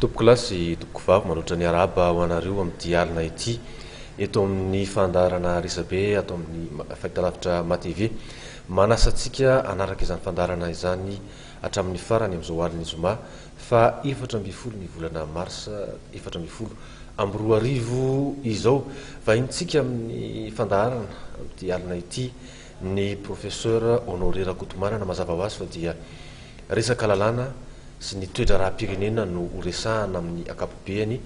Tompoko lahy sy tompoko vavy manoatra ny arahaba ho anareo amin'ity alina ity eto amin'ny fandaharana resabe ato amin'ny fahitalavitra MaTv. Manasa antsika hanaraka izany fandaharana izany hatramin'ny farany amin'izao alin'ny zoma faha efatra ambin'ny folo ny volana marsa efatra ambin'ny folo amby roa arivo izao. Vahintsika amin'ny fandaharana amin'ity alina ity Ny Professeur Honoré Rakotomanana mazava ho azy fa dia resaka lalàna sy ny toe-draharaham-pirenena no ho resahana amin'ny akapobeany.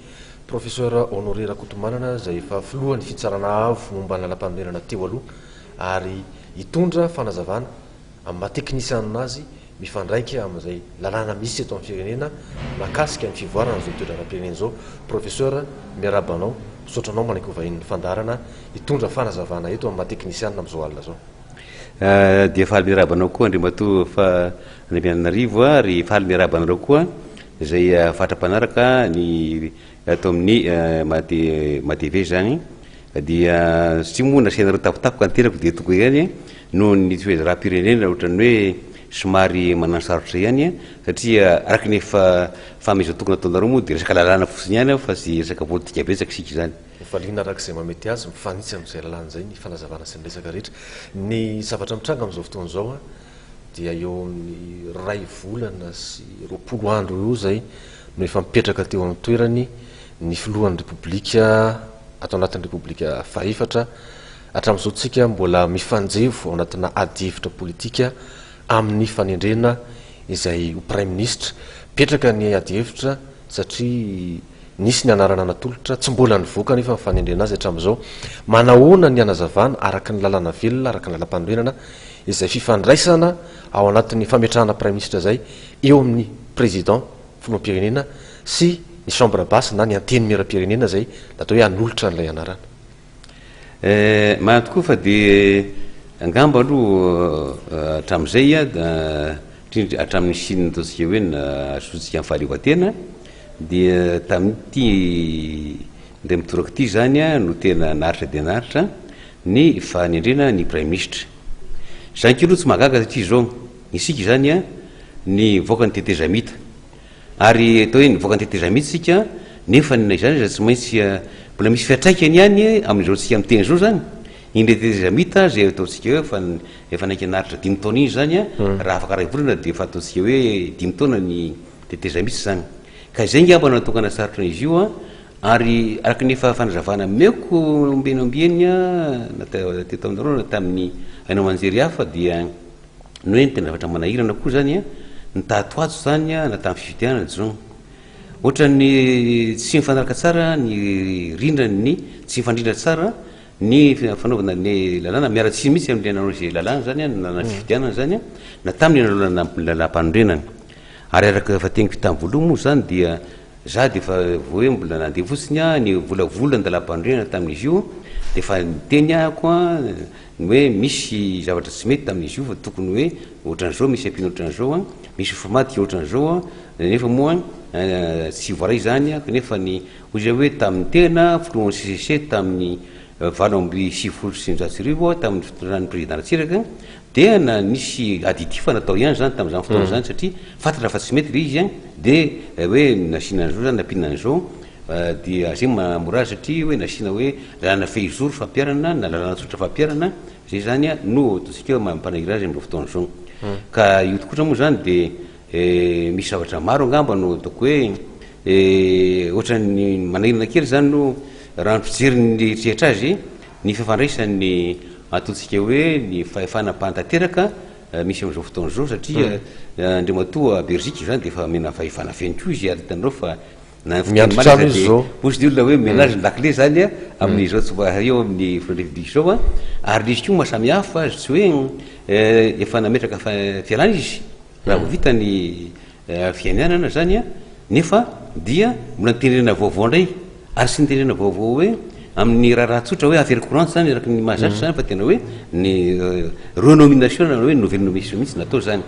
Professeur Honoré Rakotomanana izay efa filohan'ny fitsarana avo momba ny lalampanorenana teo aloha ary hitondra fanazavana amin'ny maha teknisianina azy mifandraika amin'izay lalàna misy eto amin'ny firenena mahakasika ny fivoarana izao toe-draharaham-pirenena izao. Professeur, miarahaba anao, misaotra anao manaiky ho vahinin'ny fandaharana hitondra fanazavana eto amin'ny maha teknisianina amin'izao alina izao. Dia faly miarahaba anao koa Andriamatoa Andriamiananarivo ary faly miarahaba anareo koa izay fatra mpanaraka ny Eto amin'ny Mate Matevé izany dia satria moa nasianareo tapotapoka ny tenako dia tokony ihany noho ny toe-draharaham-pirenena ohatran'ny hoe somary manan-sarotra ihany satria araka ny efa fanomezan-toky nataonareo moa dia resaka lalàna fotsiny ihany ao fa tsy resaka politika betsaka isika izany. Valiana araka izay mahamety azy, mifanitsy amin'izay lalàna izay ny fanazavana sy ny resaka rehetra. Ny zavatra mitranga amin'izao fotoana izao, dia eo amin'ny iray volana sy roapolo andro eo izay no efa mipetraka teo amin'ny toerany ny filohan'ny Repoblika ato anatin'ny Repoblika fahefatra. Hatramin'izao tsika mbola mifanjevo ao anatina adihevitra politika amin'ny fanendrena izay ho Praiminisitra. Mipetraka ny adihevitra satria nisy ny anarana natolotra, tsy mbola nivoaka anefa ny fanendrena azy hatramin'izao. Manahoana ny hanazavana araka ny lalana velona, araka ny lalampanorenana, izay fifandraisana ao anatin'ny fametrahana praiminisitra izay eo amin'ny Président, Filoham-pirenena, sy ny Chambre basse na ny Antenimieram-pirenena izay natao hoe hanolotra an'ilay anarana. Eh, marina tokoa fa dia angamba aloha hatramin'izay, indrindra hatramin'ny nisian'ny ataontsika hoe nahazoantsika ny fahaleovantena, dia tamin'ity indray mitoraka ity izany no tena naharitra dia naharitra Ny fanendrena ny praiminisitra. Zainky aloha tsy mahagaga satria izao, isika izany an, ny mivoaka ny tetezamita. Ary atao hoe nivoaka ny tetezamita isika nefa na izany aza tsy maintsy mbola misy fiantraikany ihany amin'izao tsika miteny izao izany. Iny tetezamita izay ataontsika hoe efa efa naika naharitra dimy taona iny izany an, raha afaka iray volana dia efa ataontsika hoe dimy taona ny tetezamita izany. Ka izay ngamba no natokana sarotra izy io an! Ary araka ny efa fanazavana omeko ombieny ombieny na teto aminareo na tamin'ny haino aman-jery hafa dia ny hoe ny tena zavatra manahirana koa izany an! ny tato ato izany an! na tamin'ny fifidianana zong ohatran'ny tsy mifanaraka tsara ny rindran'ny tsy mifandrindra tsara ny fanaovana ny lalàna miara-tsiny mihitsy amin'ilay nanao izay lalàna izany an! na fifidianana izany an! na tamin'ilay nanao lalàmpanorenana. Ary araka ny efa teniko tamin'ny voalohany moa izany dia za dia efa vao hoe mbola nandeha fotsiny aho nivolavola ny dalam-panorenana tamin'izy io dia efa niteny ahako ny hoe misy zavatra tsy mety tamin'izy io fa tokony hoe ohatran'izao misy ampino ohatran'izao an, misy mofo madika ohatran'izao an, nefa moa tsy voaray izany an, kanefa ny hoy izay hoe tamin'ny tena filohan'ny CCC tamin'ny valo amby sivifolo sy sivinjato sy arivo aho tamin'ny fitondran'ny Président Ratsiraka Dia na nisy aditif natao ihany izany tamin'izany fotoana izany satria fantatra fa tsy mety ilay izy dia hoe nasiana an'izao izany nampiana an'izao dia zay mahamora azy satria hoe nasiana hoe lalana fehizoro fampiharana na lalana tsotra fampiharana izay izany no ataontsika hoe mampanahiry azy amin'izao fotoana izao. Ka io kosa moa izany dia misy zavatra maro angamba no ataoko hoe ohatran'ny manahirana kely izany no raha ny fijery ny rehetra azy. Ny fifandraisan'ny antsointsika hoe ny fahefana mpanatanteraka misy amin'izao fotoana izao satria Andriamatoa Bergic izany dia efa omena fahefana feno koa izy ary hitanareo fa na ny fiteny malina aza dia hozy ny olona hoe ménage ny lakile izany amin'izao tsy mba eo amin'ny filohan'ny Repoblika izao ary izy koa mahasamihafa azy tsy hoe efa nametraka fialana izy Raha vao vita ny fianianana izany nefa dia mbola ny tenenana vaovao indray, ary tsy ny tenenana vaovao hoe amin'ny raharaha tsotra hoe affaire courante izany araka ny mahazatra izany fa tena hoe ny renomination na hoe nouvelle nomination mihitsy no atao izany.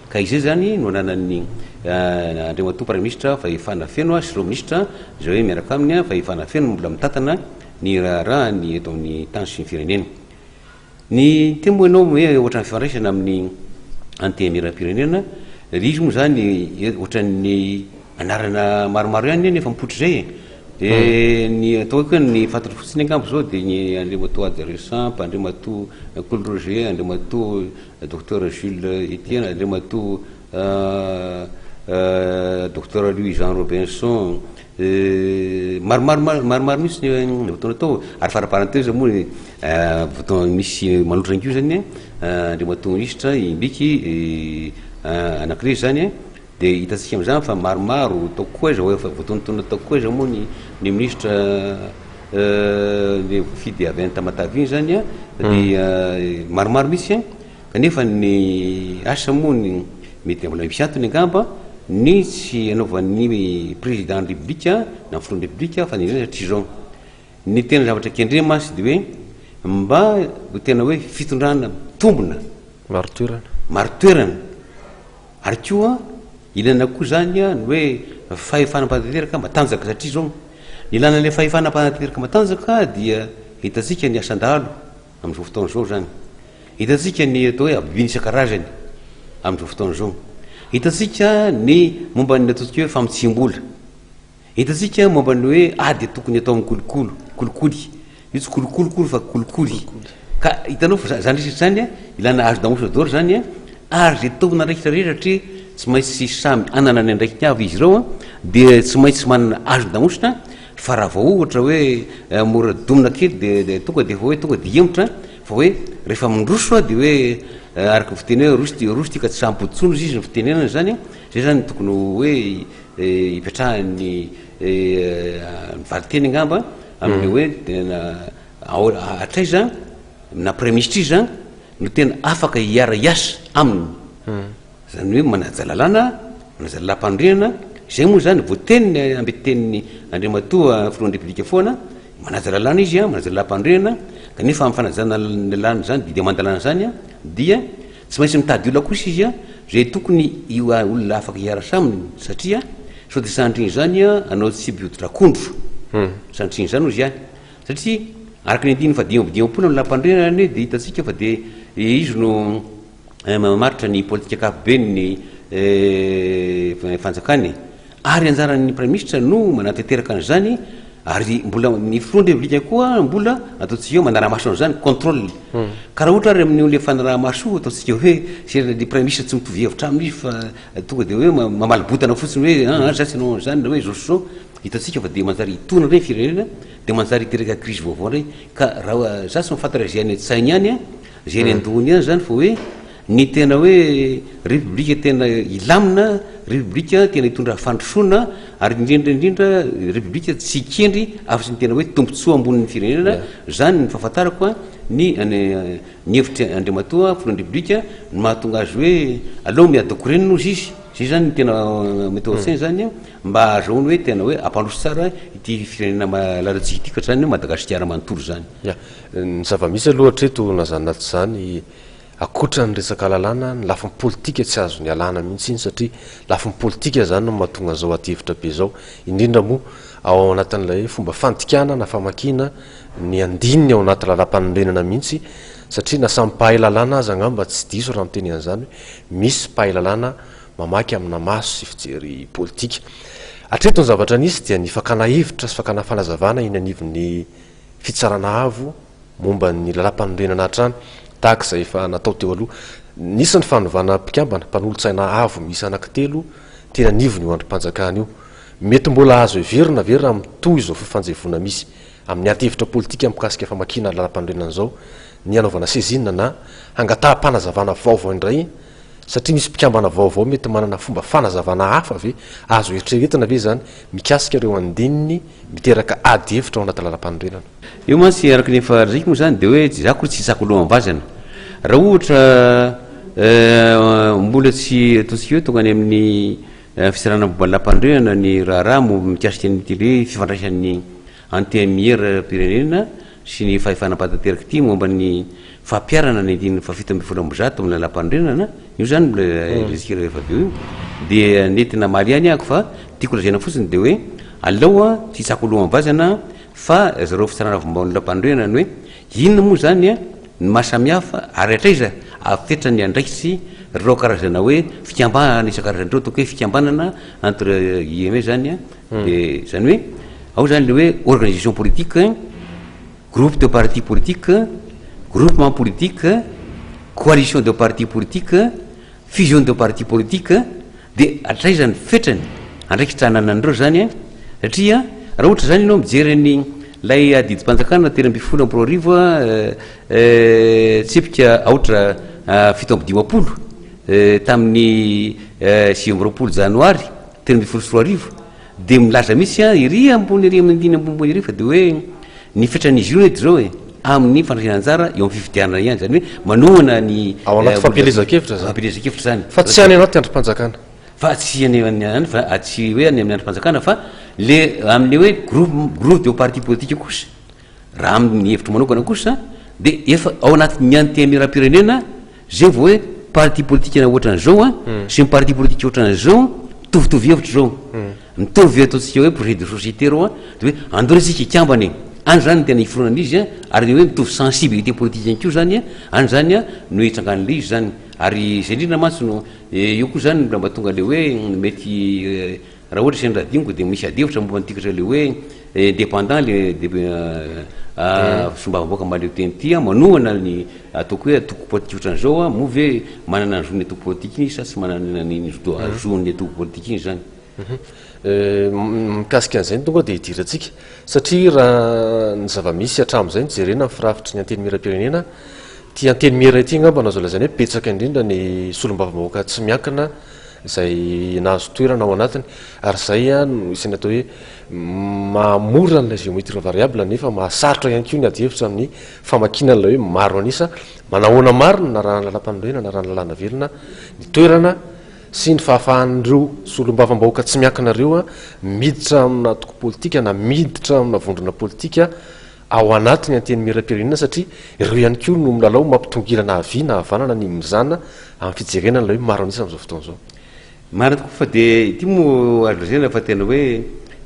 Ka izay izany no ananan'ny Andriamatoa Praiminisitra fahefana feno sy ireo Minisitra izay hoe miaraka aminy fahefana feno mbola mitantana ny raharaha ny eto amin'ny tany sy ny firenena. Ny teny moa ianao hoe ohatran'ny fifandraisana amin'ny antenimierampirenena, ry izy moa izany ohatran'ny anarana maromaro ihany anie mifampotry izay e. Dia hmm. ny atao hoe koa ny fantatra fotsiny angamba izao dia ny Andriamatoa Ady Resamp, Andriamatoa Kolo Roger, Andriamatoa euh, Docteur Jules Etienne, Andriamatoa euh, euh, Docteur Louis Jean Robinson, Maromaro maromaro mihitsy ny ny votoana atao ary fara parenthèse moa ny votoana misy manotrana an'io zany an Andriamatoa Minisitra Imbiky anankiray zany an dia hitantsika amin'izany fa maromaro ataoko koa aiza efa votoantoana ataoko koa aiza moa ny ny Minisitra le voafidy avy any Tamatave iny zany an dia maromaro mihitsy an Kanefa ny asa moa ny mety mbola misy antony angamba ny tsy anaovan'ny Président ny République na Filohan'ny République fanendrena satria izao, ny tena zavatra kendreny mantsy dia hoe mba ho tena hoe fitondrana mitombina, marin-toerana, marin-toerana ary koa ilaina koa izany ny hoe fahefana mpanantanteraka matanjaka satria izao ny ilana ilay fahefana mpanantanteraka matanjaka dia hitantsika ny asan-dahalo Amin'izao fotoana izao izany, hitantsika ny atao hoe abus isan-karazany amin'izao fotoana izao. Hitantsika ny momba ny ataontsika hoe famotsiam-bola. Hitantsika momba ny hoe ady tokony atao amin'ny kolokolo, kolikoly. Io tsy kolokolo akory fa kolikoly. Ka hitanao fa izany resaka izany, ilana âge d'embauche d'or izany, ary izay tompon'andraikitra rehetra satria tsy maintsy samy hanana ny andraikiny avy izy ireo, dia tsy maintsy manana âge d'embauche Fa raha vao ohatra hoe mora domina kely dia dia tonga dia efa hoe tonga dia hihemotra an! Fa hoe rehefa mindroso an dia hoe araka ny fiteny hoe roso ity roso ity ka tsy sampody intsony hozy izy ny fitenenana izany an! Izay izany no tokony ho hoe hipetrahan'ny ny valinteny angamba amin'ilay hoe tena ao hatraiza na praiminisitra iza no tena afaka hiara-hiasa aminy. Izany hoe manaja lalàna, manaja lalampanorenana, izay moa izany voateniny amby tenin'ny Andriamatoa Filohan'ny Repoblika foana, manaja lalàna izy, manaja lalampanorenana, kanefa amin'ny fanajana ny lalàna izany, didy aman-dalàna izany, dia tsy maintsy mitady olona kosa izy izay tokony olona afaka hiarasa aminy, satria sao dia sanatria izany anao tsy be hoditra akondro, sanatria izany hozy ahy, satria araka ny andininy fahadimy amby dimampolo amin'ny lalampanorenana anie dia hitantsika fa dia izy no. mamaritra ny politika ankapobeny ny fanjakany ary anjaran'ny praimisitra no manateteraka an'izany ary mbola ny filohan'ny reblika koa mbola ataontsika eo manaramaso an'izany contrôle hmm. ka raha ohatra ary amin'io le fanaramaso ataontsika hoe serana le praimisitra tsy mitovy hevitra aminy fa tonga de hoe mamaly botana fotsiny hoe ah, ah, zany tsy anao an'izany na hoe zao so hitantsika fa de manjary hitona reny firenena de manjary hiteraka krizy vaovao reny ka raha za tsy mahafantatra izay any an-tsainy any a Izay eny an-dohany ihany izany vao hoe ny tena hoe repoblika tena hilamina, repoblika tena hitondra fandrosoana ary indrindra indrindra repoblika tsy hikendry afa-tsy ny tena hoe tombontsoa ambonin'ny firenena. Izany ny fahafantarako ny ny hevitry Andriamatoa Filohan'ny Repoblika no mahatonga azy hoe aleo miady korenina hozy izy. Izay izany no tena mety ao an-tsainy izany mba hahazoany hoe tena hoe hampandroso tsara ity firenena malalantsika ity ka izany hoe Madagasikara manontolo izany. Ny zava-misy aloha hatreto na izany na tsy izany, ankoatra ny resaka lalàna, ny lafiny politika tsy azo nialana mihitsy iny satria lafiny politika izany no mahatonga an'izao adihevitra be izao, indrindra moa ao anatin'ilay hoe fomba fandikana na famakiana ny andininy ao anaty lalàmpanorenana mihitsy satria na samy mpahay lalàna aza angamba tsy diso raha miteny an'izany hoe misy mpahay lalàna mamaky amina maso sy fijery politika. Hatreto ny zavatra nisy dia ny fakana hevitra sy fakana fanazavana eny anivon'ny Fitsarana avo momba ny Lalàmpanorenana hatrany, tahaka izay efa natao teo aloha. Nisy ny fanovana mpikambana, mpanolotsaina avo miisa anankitelo, teny anivon'io andrim-panjakana io. Mety mbola azo heverina ve raha mitohy izao fifanjevoana misy amin'ny adihevitra politika mikasika famakiana lalàmpanorenana izao ny hanaovana sezina na hangataham-panazavana vaovao indray Satria misy mpikambana vaovao mety manana fomba fanazavana hafa ve? Azo eritreretina ve izany mikasika ireo andininy miteraka ady hevitra ao anaty lalàmpanorenana? Eo mantsy araka ny efa lazaiko moa izany dia hoe tsy za akory tsy hitsako alohan'ny vazana. Raha ohatra mbola tsy ataontsika hoe tonga any amin'ny fisarahana momba ny lalàmpanorenana ny raharaha mikasika an'ity hoe fifandraisan'ny Antenimieram-pirenena sy ny fahefana mpanatanteraka ity momba ny fampiharana ny andininy fahafito ambin'ny folo amby zato amin'ny Lalàmpanorenana, io izany mbola resika rehefa avy eo io, dia nety namaly ihany aho fa tiako lazaina fotsiny dia hoe aleo tsy hitsako lohan'ny vazana fa zareo fitsarana vao-mao ny Lalàmpanorenana ny hoe inona moa izany ny maha samihafa ary hatraiza avy fetra ny andraikitry ireo karazana hoe fikambanana isan-karazany ireo, ataoko hoe fikambanana entre guillemets izany. Dia izany hoe ao izany ilay hoe organisation politique, groupe de partis politiques, groupement politique, coalition de partis politiques, fusion de partis politiques, dia hatraiza ny fetrany, andraikitra ananan'ireo izany an? Satria raha ohatra izany ianao mijery ny ilay adidim-panjakana telo ambin'ny folo amby roa arivo tsipika aotra fito amby dimampolo tamin'ny sivy amby roapolo janoary, telo ambin'ny folo sy roa arivo dia milaza mihitsy an ery ambony ery amin'ny andininy ambony ambony ery fa dia hoe ny fetran'izy io anie zao e amin'ny fandraisana anjara eo amin'ny fifidianana ihany zany hoe manohana ny ao anaty fampielezan-kevitra zany fampielezan-kevitra zany fa tsy any anaty andrim-panjakana fa tsy any any fa tsy hoe any amin'ny andrim-panjakana fa le amin'ny hoe groupe groupe de parti politique kosa Raha amin'ny hevitro manokana kosa dia efa ao anatin'ny antenimierampirenena izay vao hoe parti politika ohatran'izao an, hmm. sy ny parti politika ohatran'izao mitovitovy hevitra izao. Hmm. Mitovy ataontsika hoe projet de société reo an, dia hoe andao isika ikambana e. Any zany ny tena iforonana izy an, ary hoe mitovy sensibilité politika ihany koa zany an, any zany an no hitsangan'le izy zany. Ary izay indrindra mantsy no eh, io koa zany mba tonga le hoe mety eh, Raha ohatra sendra adinoko dia misy adihevitra momba ny tikatra le hoe indépendant le solombavambahoaka mahaleo teny ity an, manohana ny ataoko hoe antoko politika otran'izao an, moa ve manana ny zon'ny antoko politika iny izy sa tsy manana ny zon'ny antoko politika iny izany? Mikasika an'izay no tonga dia hidirantsika satria raha ny zava-misy hatramin'izay no jerena ny firafitry ny antenimieram-pirenena, ity antenimiera ity angamba no azo lazaina hoe betsaka indrindra ny solombavambahoaka tsy miankina izay nahazo toerana ao anatiny ary izay no isan'ny atao hoe mahamora an'ilay géométrie variable nefa mahasarotra ihany koa ny adihevitra amin'ny famakiana an'ilay hoe maro an'isa manahoana marina na raha ny lalam-panorenana na raha ny lalàna velona ny toerana sy ny fahafahan'ireo solombavambahoaka tsy miankina ireo miditra amina antoko politika na miditra amina vondrona politika ao anatin'ny Antenimierampirenena satria ireo ihany koa no milalao mampitongilana havia na havanana ny mizana amin'ny fijerena an'ilay hoe maro an'isa amin'izao fotoana izao. Marina tokoa fa dia ity moa azo lazaina fa tena hoe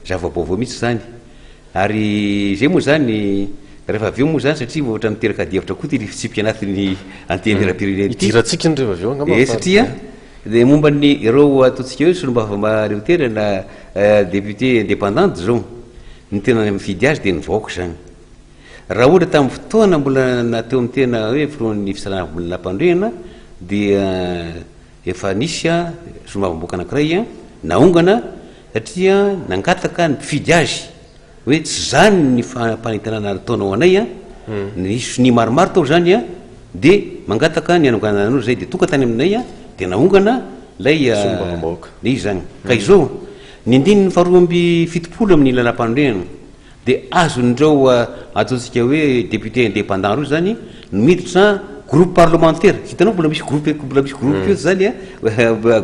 zava-baovao mihitsy izany ary izay moa izany rehefa avy eo moa izany satria ohatra miteraka adihevitra koa ity fitsipika anatin'ny Antenimierampirenena ity. Hidirantsika indreo avy eo angamba fa. Ee satria. Dia momba ny ireo ataontsika hoe solombavamb reutera na député indépendante zao, ny tena mifidy azy dia ny vahoaka izany. Raha ohatra tamin'ny fotoana mbola na teo amin'ny tena hoe filohan'ny fisaraham-boninahim-pandrehana dia efa nisy solombavamboaka anankiray naongana satria nangataka ny mpifidy azy. Hoe tsy izany ny fanentanana ataonao anay an, nisy sonia maromaro tao izany an, dia mangataka ny hanonganana anao izay dia tonga tany aminay an, dia nahongana ilay le izy izany. Ka izao, ny andininy faharoa amby fitopolo amin'ny lalam-panorenana dia azon'ireo ataontsika hoe députés indépendants ireo izany no miditra groupe parlementaire, hitanao mbola misy groupe, mbola misy groupe koa izany an,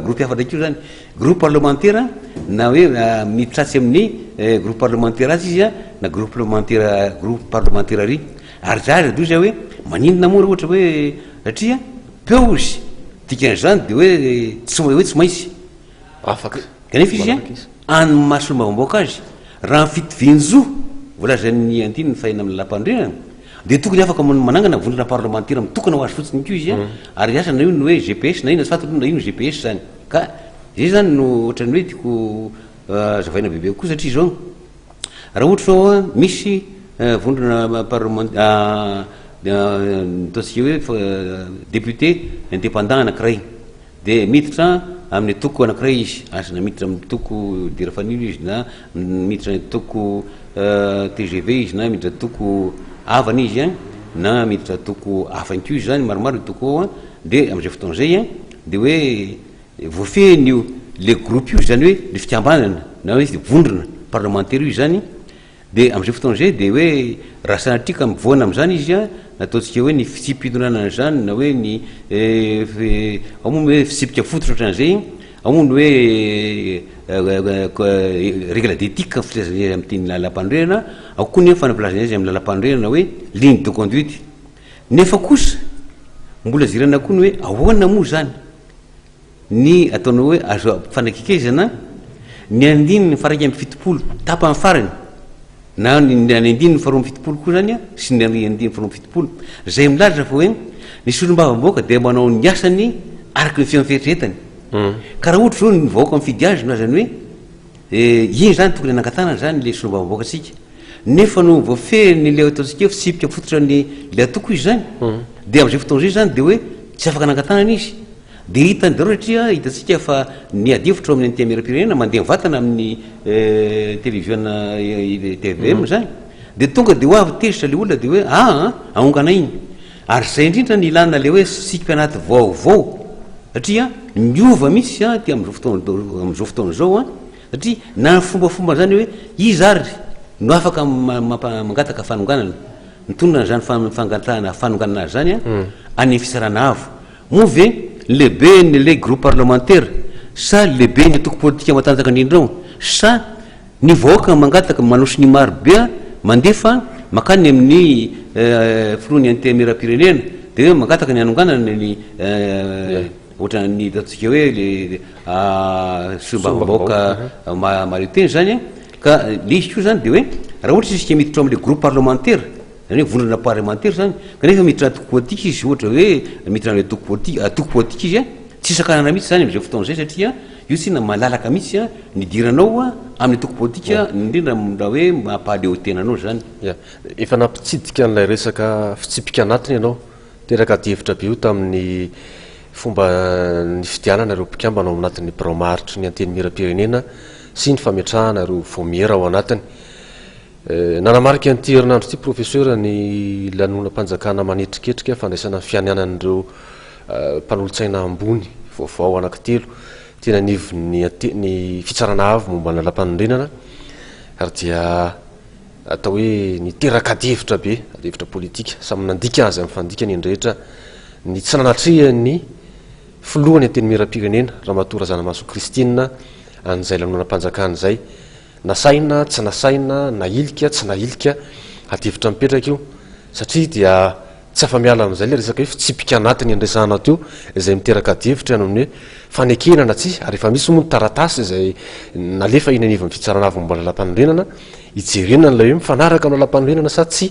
groupe hafa indray koa izany. Groupe parlemantera na hoe mitratsy amin'ny groupe parlemantera azy izy na groupe parlemantera groupe parlemantera ry ary zah ry doza hoe maninona moa raha ohatra hoe satria peo izy dikan'izany dia hoe tsy hoe tsy maintsy afaka kanefa izy any mahasolombavam-bahoaka azy raha ny fitovian-jo voalazan'ny andininy fahina amin'ny lampandrinana dia tokony afaka manangana vondrona parlemantera mitokana ho azy fotsiny koa izy ary asa na io ny hoe GPS na inona tsy fantatro na ino GPS zany Ka izay izany no ohatran'ny hoe tiako hazavaina bebe kokoa satria izao raha ohatra izao a, misy vondrona parlement ataontsika hoe député indépendant anankiray dia miditra amin'ny antoko anankiray izy, asa na miditra amin'ny antoko Dire Fanilo izy na miditra antoko tgv izy na miditra antoko havana izy a na miditra antoko hafa ihany koa izy zany, maromaro ny antoko ao a, dia amin'izay fotoana izay a. Dia hoe voafehiny io, ilay groupe io, izany hoe ilay fikambanana na hoe vondrona parlemantera io izany, dia amin'izay fotoana izay dia hoe raha sanatria ka mivoana amin'izany izy an, ny ataontsika hoe ny fitsipi-pitondrana an'izany na hoe ny ao moa ny hoe fitsipika fototra ohatran'izay, ao moa ny hoe règle d'éthique filazana azy amin'ny teny lalam-panorenana, ao koa ny hoe fanabeazana azy amin'ny lalam-panorenana hoe ligne de conduite. Nefa kosa, mbola jerena koa ny hoe ahoana moa izany ny ataonao hoe azo ampifanakaikezana ny andininy faha iraika amby fitopolo tapany farany na ny andininy faharoa amby fitopolo koa izany sy ny andininy faharoa amby fitopolo izay milaza fa hoe ny solombavambahoaka dia manao ny asany araka ny fihaon'ny fieritreretany. Ka raha ohatra izao ny vahoaka mifidy azy no azany hoe Eny izany tokony hanangatahana izany ilay solombavambahoakantsika nefa noho ny voafehin'ilay ataontsika hoe fitsipika fototra ny ilay atoko izy izany dia amin'izay fotoana izay izany dia hoe tsy afaka hanangatahana izy dia hitany daholo satria hitantsika fa ny ady hevitra ao amin'ny antenimieram-pirenena mandeha mivatana amin'ny televiziona TVM izany dia tonga dia ho avy tezitra ilay olona dia hoe aa ahonganay iny Ary izay indrindra no ilana ilay hoe siky anaty vaovao satria miova mihitsy an aty amin'izao fotoana amin'izao fotoana izao an satria na ny fombafomba izany hoe iza ary no afaka mangataka fanonganana mitonona izany fangatahana fanonganana azy izany an hmm. any ny fisarana avo moa ve lehibe ny ilay groupe parlementaire sa lehibe ny toko politika matanjaka indrindra ao sa Ny vahoaka mangataka manosy ny maro be mandefa makany amin'ny filohan'ny antenimieram-pirenena dia hoe mangataka ny hanonganana ny ohatran'ny ataontsika hoe solombavambahoaka mahaleo tena izany an, ka ilay izy koa izany dia hoe raha ohatra izy isika miditra ao amin'ilay groupe parlementaire izany hoe vondrona parlemantera izany kanefa miditra antoko politika izy ohatra hoe miditra amin'ilay antoko politika izy an, tsy sakanana mihintsy izany amin'izay fotoana izay satria. Io tsinona malalaka mihitsy an, nidiranao an, amin'ny antoko politika, indrindra raha hoe mampahaleotena anao izany. Ia. Efa nampitsidika an'ilay resaka fitsipika anatiny ianao. Teraka adihevitra be io tamin'ny fomba nifidianana ireo mpikambana ao anatin'ny birao maharitry ny Antenimierampirenena sy ny fametrahana ireo vaomiera ao anatiny. Nanamarika an'ity herinandro ity Profesora ny lanonam-panjakana manetriketrika fandraisana ny fianianan'ireo mpanolotsaina ambony vaovao anankitelo teny anivon'ny ny Fitsarana Avo momba ny Lalampanorenana ary dia atao hoe niteraka adihevitra be, adihevitra politika. Samy nandika azy amin'ny fandikany ny rehetra ny tsy nanatrehan'ny Filoha ny Antenimierampirenena Ramatoa Razanamahasoa Christine an'izay lanonam-panjakana izay. Nasaina, tsy nasaina, nahilika, tsy nahilika, adihevitra mipetraka io, satria dia tsy afa-miala amin'izay ilay resaka hoe fitsipika anatiny andresanao teo, izay miteraka adihevitra noho ny hoe fanekena na tsia, ary efa misy moa ny taratasy izay nalefa eny anivon'ny fitsarana avo momba ny lalàmpanorenana, hijerena an'ilay hoe mifanaraka amin'ny lalàmpanorenana sa tsia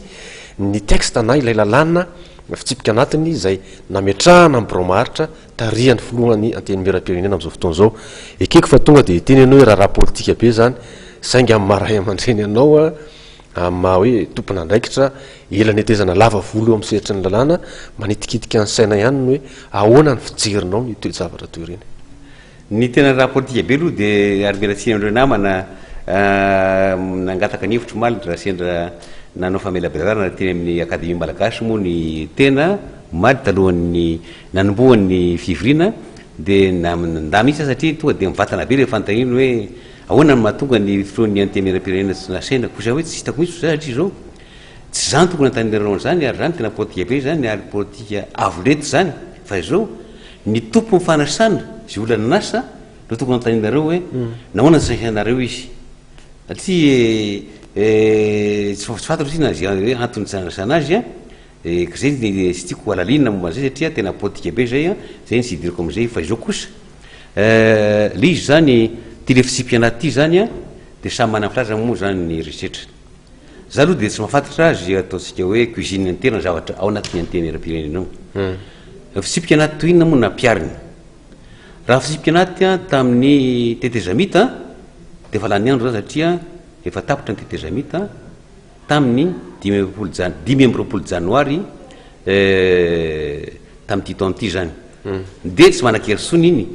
ny texte na ilay lalàna fitsipika anatiny izay nametrahana ny birao maharitra, tarihan'ny filohan'ny antenimieram-pirenena amin'izao fotoana izao. Ekeko fa tonga dia hiteny ianao hoe raharaha politika be izany, saingy amin'ny maha ray aman-dreny anao, amin'ny maha hoe tompon'andraikitra ela netezana lava volo eo amin'ny sehatry ny lalàna, manitikitika ny saina ihany ny hoe ahoana ny fijerinao ny toe-javatra toy ireny. Ny tena raha politika be aloha dia ary mila tsiny an'ireo namana nangataka ny hevitro omaly ndry Rasendra nanao famelabelarana teny amin'ny Akademia Malagasy moa ny tena omaly talohan'ny nanombohany ny fivoriana dia nandà mihitsy aho satria tonga dia mivantana be ilay fanontaniany hoe ahoana no mahatonga ny filohan'ny Antenimierampirenena tsy nasaina kosa hoe tsy hitako mihitsy izay hatrizao tsy izany tokony hanontanianareo an'izany ary izany tena politika be izany ary politika avo lenta izany fa izao Ny Tompon'ny fanasana izay olona nanasa no tokony hanontanianareo hoe nahoana tsy nasainareo izy. Satria tsy tsy fantatro na izay hoe antony tsy nanasana azy an, dia ka izay ny tsy tiako halalinina momba an'izay satria tena politika be izay an, izay ny tsy hidirako amin'izay fa izao kosa le izy izany ity le fitsipi-pianaty ity izany an dia samy manana ny filazany moa izany ny herisetra. Za aloha dia tsy mahafantatra azy ataontsika hoe cuisine interne ny zavatra ao anatin'ny antenera-pirenena ao. Ny fitsipika anaty toy inona moa no nampihariny? Raha ny fitsipika anaty tamin'ny tetezamita dia efa lany andro izany satria efa tapitra ny tetezamita tamin'ny dimy ambin'ny folo janoary Tamin'ity taona ity izany dia tsy manan-kery intsony iny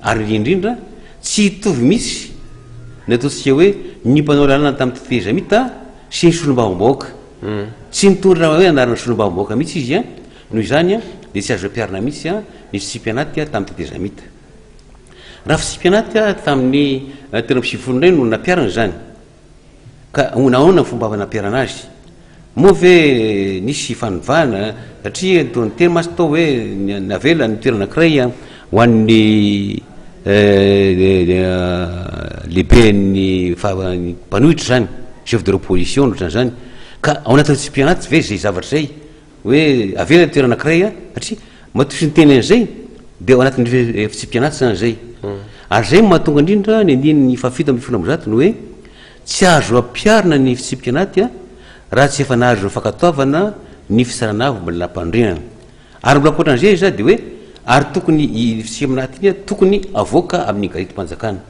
ary indrindra tsy hitovy mihitsy ny ataontsika hoe ny mpanao lalàna tamin'ny tetezamita sy ny solombavambahoaka. Tsy nitondra hoe anarana solombavambahoaka mihitsy izy an! Noho izany dia tsy azo ampiharina mihitsy an ny fitsipi-anaty tamin'ny tetezamita. Raha fitsipi-anaty tamin'ny telo amby sivifolo indray no nampiharina izany. Ka ahoana ahoana ny fomba fanaperana azy? Moa ve nisy fanovana? Satria toa niteny mantsy tao hoe navela ny toerana anankiray ho an'ny lehiben'ny mpanohitra izany, chef de l'opposition, ohatran'izany. Ka ao anatin'ny CEPI anaty ve izay zavatra izay? hoe avela ny toerana anankiray a satria matoa tsy niteny an'izay dia ao anatin'ny efi- efitsipianaty zany zay ary zay no mahatonga indrindra ny andininy fahafito ambin'ny folo amby zato ny hoe tsy azo ampiharina ny fitsipianaty a raha tsy efa nahazo ireo fankatoavana ny fisarana avy mbola nampandrinana ary mbola ankoatran'izay iza dia hoe ary tokony i fitsipianaty iny a tokony avoaka amin'ny garitim-panjakana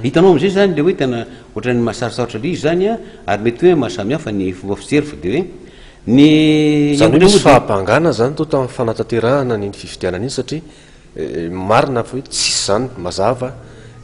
Hitanao amzay zany le hoe tena ohatran'ny mahasarosarotra be izy zany an, ary mety hoe mahasamihafa ny fomba fijery fa de hoe ny Zany hoe misy fahabangana zany toa tamin'ny fanatanterahana an'iny fifidianana iny satria marina fa hoe tsisy zany mazava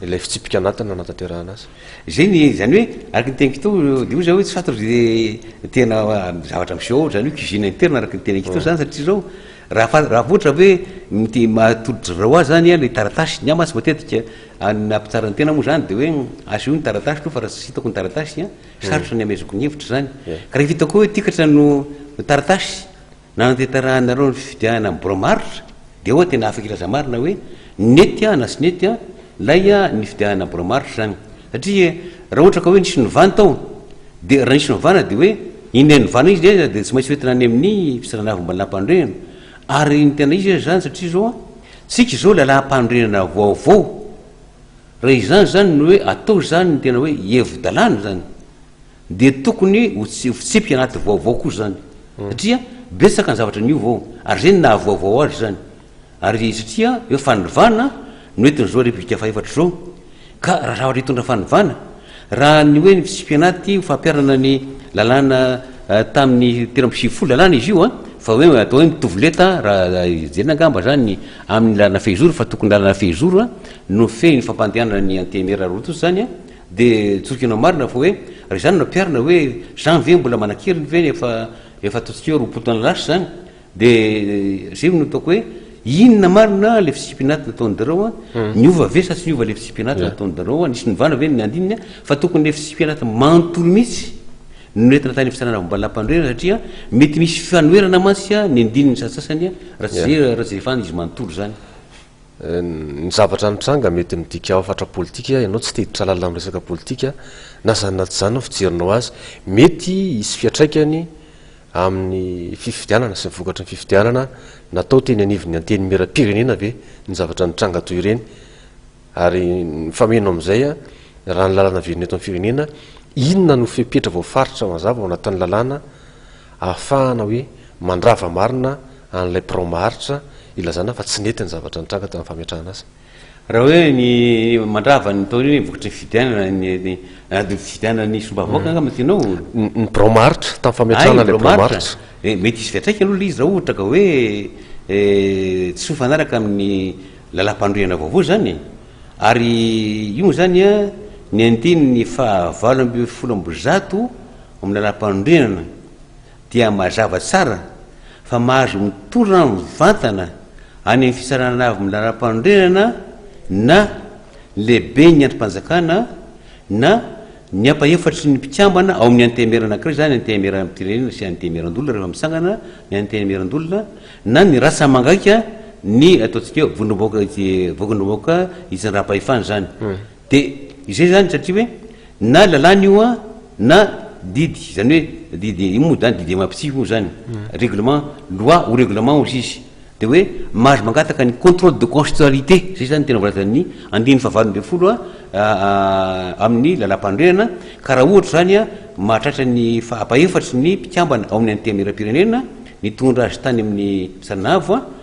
ilay fitsipika anatiny nanatanterahana azy. Zay ny zany hoe araka ny teniko teo de hoy za hoe soit ry tena zavatra miseho ao zany hoe cuisine interne araka ny teneniko teo zany satria zao raha fa raha vao ohatra hoe miteny mahatolotry zao azy zany an le taratasy ny ama tsy matetika Ny nahampitsara ny tena moa izany dia hoe asehony ny taratasy aloha fa raha tsy hitako ny taratasy an, sarotra ny hamezako ny hevitra izany. Ka rehefa hitako hoe tikatra no taratasy nanatanterahanareo ny fifidianana ny Biraom-aharitra dia eoa tena afaka hilaza marina hoe nety an na tsy nety an ilay ny fifidianana ny Biraom-aharitra izany. Satria raha ohatra ka hoe nisy novana tao dia raha nisy novana dia hoe inona ny novana izy dia tsy maintsy hoentina any amin'ny fisarana avy ambony lampany ireny Ary ny tena izy aza izany satria izao an, tsika izao lalàm-panorenana vaovao, raha izany izany no hoe atao izany ny tena hoe hevi-dalàna izany, dia tokony ho tsy ho fitsipika anaty vaovao koa izany, satria betsaka ny zavatra niova ao, ary izay no nahavaovao azy izany, ary satria hoe fanivàna no entin'izao Repoblika faha-efatra izao, Ka raha zavatra hitondra fanovana, raha ny hoe ny fitsipi-anaty ho fampiharana ny lalàna tamin'ny telo amby sivifolo lalàna izy io an, fa hoe atao hoe mitovy lenta an, raha hijerena angamba izany amin'ny lalana fehizoro, fa tokony lalana fehizoro an, no mifehy ny fampandehanana ny antenimiera roa tonta izany an, dia tsorinkinao marina fa hoe raha izany no ampiharina hoe izany ve mbola manan-keriny ve ny efa efa ataontsika hoe roapolo taona lasa izany? Dia zay no ataoko hoe inona marina le fisipianaty nataon'dreo a, niova ve sa tsy niova le fisipianaty nataon'dreo a, nisy novana ve ny andininy a, fa tokony le fisipianaty manontolo mihitsy no nentina tany fitsarana momba ny lampandriana satria mety misy fifanoherana mantsy a ny andininy satsasany a raha tsy zay raha tsy efa izy manontolo zany. Ny zavatra nitranga mety midika hafatra politika, ianao tsy te-hiditra lalina amin'ny resaka politika, na izany na tsy izany ny fijerinao azy. Mety hisy fiantraikany amin'ny fifidianana sy ny vokatry ny fifidianana natao teny anivon'ny Antenimierampirenena ve ny zavatra nitranga toy ireny? Ary mifameno amin'izay, raha ny lalàna velona eto amin'ny firenena, inona no fepetra voafaritra mazava ao anatin'ny lalàna ahafahana hoe mandrava marina an'ilay birao maharitra ilazana fa tsy nety ny zavatra nitranga tamin'ny fametrahana azy? Raha hoe ny mandrava ny taona io ny vokatry ny fifidianana ny ny ady fifidianana ny somba vahoaka angamba no tianao o? Ny ny birao maritsa, tamin'ny fametrahana ilay birao maritsa. Dia mety hisy fiantraikany aloha ilay izy raha ohatra ka hoe tsy mifanaraka amin'ny lalam-pandrohihana vaovao izany e. Ary io moa izany an, ny andininy fahavalo ambin'ny folo amby zato amin'ny lalam-pandrohihana dia mazava tsara fa mahazo mitora mivantana any amin'ny Fitsarana Avo ny Lalam-panorenana na ny Lehiben'ny Andrim-panjakana na ny ampahefatry ny mpikambana ao amin'ny Antenimieran'ny ankiray, izany Antenimieram-pirenena sy Antenimieran-doholona rehefa mitsangana ny Antenimieran-doholona, na ny rasa mangaika ny ataontsika hoe Vondrom-bahoaka Vondrom-bahoaka Itsinjaram-pahefana izany. Dia izay izany satria hoe na lalàna io an, na didy, izany hoe didy, io moa izany didy MAPCI moa izany, règlement, loi ou règlement hozy izy. Dia hoe mahazo mangataka ny contrôle de constitutionnalité, izay izany ny tena voalazan'ny andininy fahavalo ambin'ny folo amin'ny lalàmpanorenana, ka raha ohatra izany an, mahatratra ny faha-efatry ny mpikambana ao amin'ny Antenimierampirenena nitondra azy tany amin'ny Fitsarana Avo an,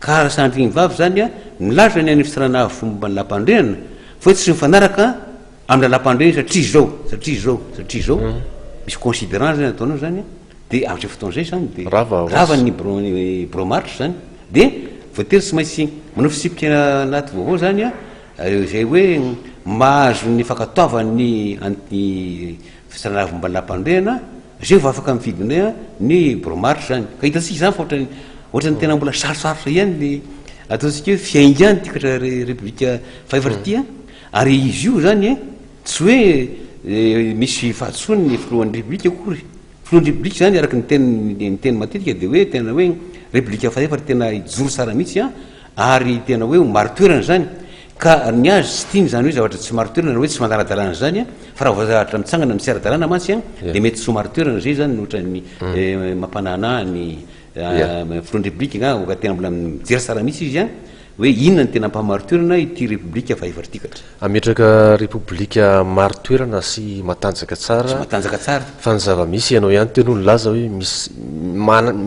Ka raha sandry ny vavy izany an, milaza ny any Fitsarana Avo fomba ny Lalam-pandrehana fa hoe tsy mifanaraka amin'ny Lalam-pandrehana satria izao, satria izao, satria izao, misy considerant izany ataonao izany an, dia amin'izay fotoana izay izany dia rava ny Birao Marc izany, dia voatery tsy maintsy manao fitsipika anaty vaovao izany an, izay hoe mahazo ny fankatoavan'ny an'ny. Fitrandrahana volambolam-panorenana, izay vao afaka mifidy ny hoe ny Bromart izany. Ka hitantsika izany fa ohatran'ny ohatran'ny tena mbola sarotsarotra ihany ny ataontsika hoe fiaingan'ny tikatra Repoblika fahefatra ity an! Ary izy io izany tsy hoe misy fahadisoany ny Filohan'ny Repoblika akory. Filohan'ny Repoblika izany araka ny teniny ny teniny matetika dia hoe tena hoe Repoblika fahefatra tena hijoro tsara mihitsy an! Ary tena hoe ho marin-toerana izany ka ny azy tsy tiany izany hoe zavatra tsy marin-toerana na hoe tsy manara-dalàna izany an, fa raha vao zavatra mitsangana amin'ny tsy ara-dalàna mantsy an dia mety tsy ho marin-toerana, izay izany no ohatran'ny mampananaa ny filohan-drepoblika angaha oka tena mbola mijery tsara mihitsy izy an, hoe inona no tena ampahamarin-toerana ity repoblika vahevartikatra. Hametraka repoblika marin-toerana sy matanjaka tsara, sy matanjaka tsara, fa ny zava-misy ianao ihany teo aloha nilaza hoe misy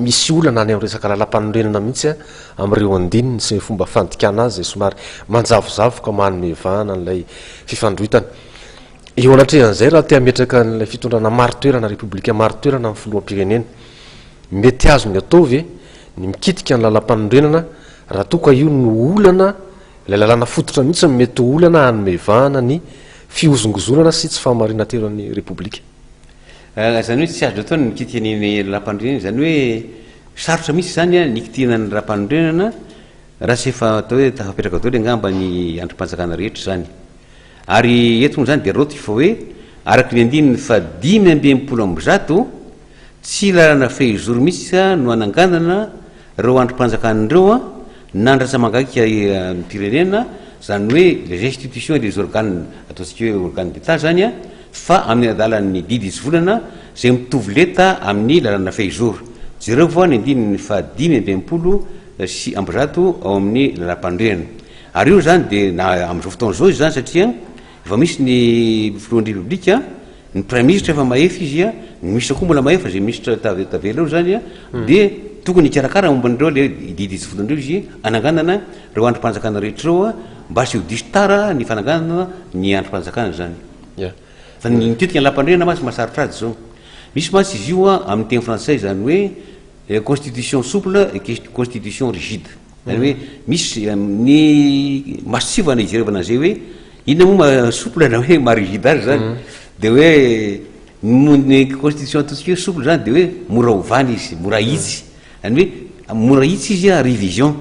misy olana any amin'ny resaka lalampanorenana mihitsy an, amin'ireo andininy sy ny fomba fandikana azy izay somary manjavozavo ka manome vahana an'ilay fifandroitana. Eo anatrehan'izay, raha te hametraka an'ilay fitondrana marin-toerana, repoblika marin-toerana amin'ny filoham-pirenena, mety azony atao ve ny mikitika ny lalàmpanorenana raha toa ka io no olana, ilay lalàna fototra mihitsy no mety ho olana hanome vahana ny fihozongozonana sy tsy fahamarinan-teran'ny repoblika? Izany hoe tsy azo atao ny mikitika ny rampanorenana, izany hoe sarotra mihitsy izany ny hikitihana ny rampanorenana raha tsy efa atao hoe tafapetraka daholo angamba ny andrim-panjakana rehetra izany. Ary eto moa izany dia raoty fa hoe araka ny andininy fahadimy amby enimpolo amby zato, tsy lalana fehizoro mihitsy no hananganana ireo andrim-panjakana ireo nandratra mangaika ny firenena, izany hoe les institutions et les organes, ataontsika hoe organes d'Etat izany, fa amin'ny adalan'ny didy izovolana izay mitovy lenta amin'ny lalana fehizoro. Jereo foana ny andininy faha dimy amby enimpolo sy amby zato ao amin'ny Lalàmpanorenana. Ary io izany dia na amin'izao fotoana izao izy izany satria efa misy ny Filohan'ny Repoblika, ny Praiminisitra efa mahefa izy, ny Minisitra koa mbola mahefa, izay Minisitra tavela eo izany dia tokony hikarakara momba an'ireo ilay didy izovolana ireo izy hananganana ireo andrim-panjakana rehetra ireo, Mba tsy ho diso tara ny fananganana ny andrim-panjakana izany. Fa ny tetika ny lampandriana mantsy mahasarotr'ady izao. Misy mantsy izy io amin'ny teny frantsay izany hoe eh, constitution souple et constitution rigide. Izany hoe misy eh, ny masontsivana ijerevana an'izay hoe inona moa ma souple na hoe ma rigide azy izany. Mm. Dia hoe ny constitution ataontsika hoe souple izany dia hoe mora ovana izy, mora ahitsy. Any hoe mora hitsy izy a revision.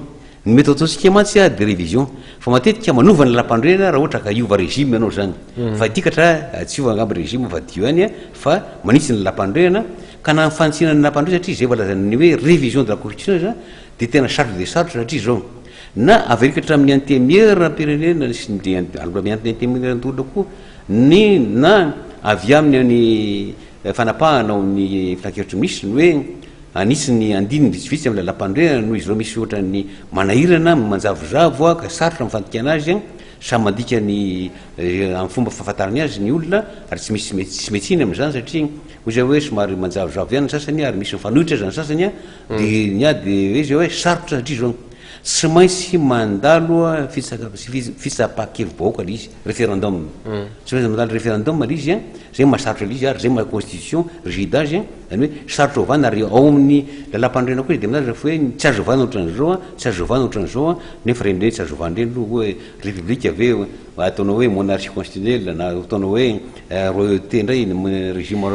Ny mety ataontsika mantsy a de revision. Fa matetika manova ny lalam-panorenana raha ohatra ka hiova regime ianao zany. Fa hidikatra a tsy hiova angamba regime fa dio ihany a fa manitsy ny lalam-panorenana. Ka na ny fanitsiana ny lalam-panorenana satria zay vao lazain'ny hoe revision de la constitution zany de tena sarotra dia sarotra satria zao. Na averiko hatramin'ny antemieranam-pirenena sy ny aloha miantona antemieran-doholona koa ny na avy aminy ny fanapahana ao amin'ny filankevitry ny minisitra ny hoe Anitsy ny andininy vitsivitsy amin'ny lalampanorenana noho izy ireo misy ohatra ny manahirana, manjavozavo ka sarotra ny fandikana azy, samy mandika ny amin'ny fomba fahafantarany azy ny olona ary tsy misy tsy mety hihina amin'izany satria hoy izay hoe somary manjavozavo ihany ny sasany ary misy mifanohitra aza ny sasany dia ny ahy dia hoe izay hoe sarotra satria izao Tsy maintsy mandalo fitsapa-kevi-bahoaka ilay izy, referendum. Tsy maintsy mandalo referendum ilay izy, izay no maha-sarotra ilay izy ary izay no maha-constitution rigide azy, izany hoe sarotra ovana ary ao amin'ny lalàmpanorenana koa dia milaza fa hoe tsy azo ovana ohatran'izao, tsy azo ovana ohatran'izao, nefa ireny indray tsy azo ovana ireny aloha hoe repoblika ve ataonao hoe monarchie constitutionnelle na ataonao hoe royauté indray régime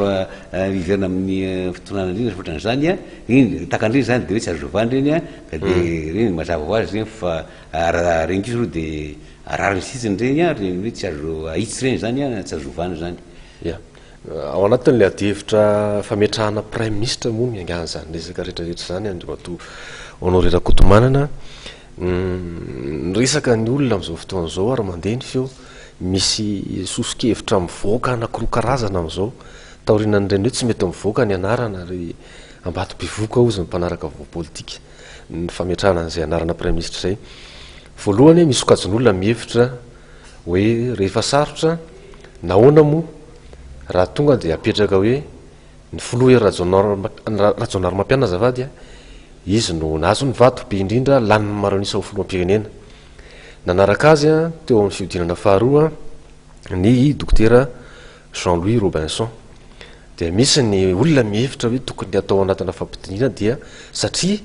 hiverina amin'ny fitondrana indrindra sy ohatran'izany, iny, tahaka an'ireny izany dia hoe tsy azo ovana ireny. Ka dia ireny mazava ho azy ireny fa raha reny kosa aloha dia rariny sitsiny ireny an, ireny hoe tsy azo ahitsy ireny izany an, tsy azo ovana izany. Ia. Ao anatin'ilay adihevitra fametrahana praiminisitra moa no niangahan'izany resaka rehetrarehetra izany Andriamatoa Honoré Rakotomanana. Ny resaka ny olona amin'izao fotoana izao ary mandeha ny feo, misy soso-kevitra mivoaka anankiroa karazana amin'izao, taorianan'ireny hoe tsy mety mivoaka ny anarana ary Ambatobevohoka hozy ny mpanaraka vaovao politika ny fametrahana an'izay anarana praiminisitra izay. Voalohany, misy sokajin'olona mihevitra hoe rehefa sarotra, nahoana moa raha tonga dia apetraka hoe ny filoha Hery Rajaonarimampianina azafady a, izy no nahazo ny vato be indrindra lanin'ny maro an'isa ho filoham-pirenena. Nanaraka azy teo amin'ny fihodinana faharoa ny dokotera Jean Louis Robinson, dia misy ny olona mihevitra hoe tokony hatao anatina fampidiniana dia satria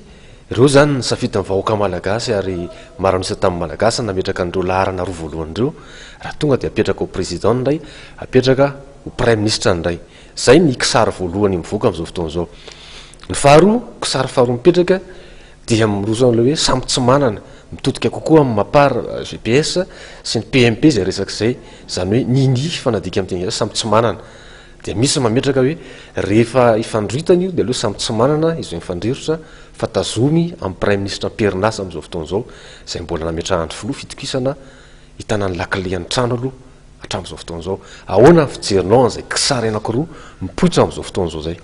ireo izany ny safidin'ny vahoaka malagasy ary maro an'isa tamin'ny malagasy nametraka an'ireo laharana roa voalohany ireo, raha tonga dia apetraka ho président indray, apetraka ho praiminisitra indray. Izay ny kisary voalohany mivoaka amin'izao fotoana izao. Ny faharoa, kisary faharoa mipetraka dia miroso amin'ilay hoe samy tsy manana, mitodika kokoa amin'ny mapar, GPS, sy ny PMP izay resaka izay, izany hoe nini fa nadika amin'ny teny gasy, samy tsy manana. Dia misy mametraka hoe rehefa ifandroritana io dia aleo samy tsy manana izay mifandrirotra fa tazomy amin'ny praiminisitra am-perinasa amin'izao fotoana izao, izay mbola nametrahan'ny filoha fitokisana hitana ny lakilen'ny trano aloha hatramin'izao fotoana izao. Ahoana ny fijerinao an'izay kisary anankiroa mipoitra amin'izao fotoana izao izay?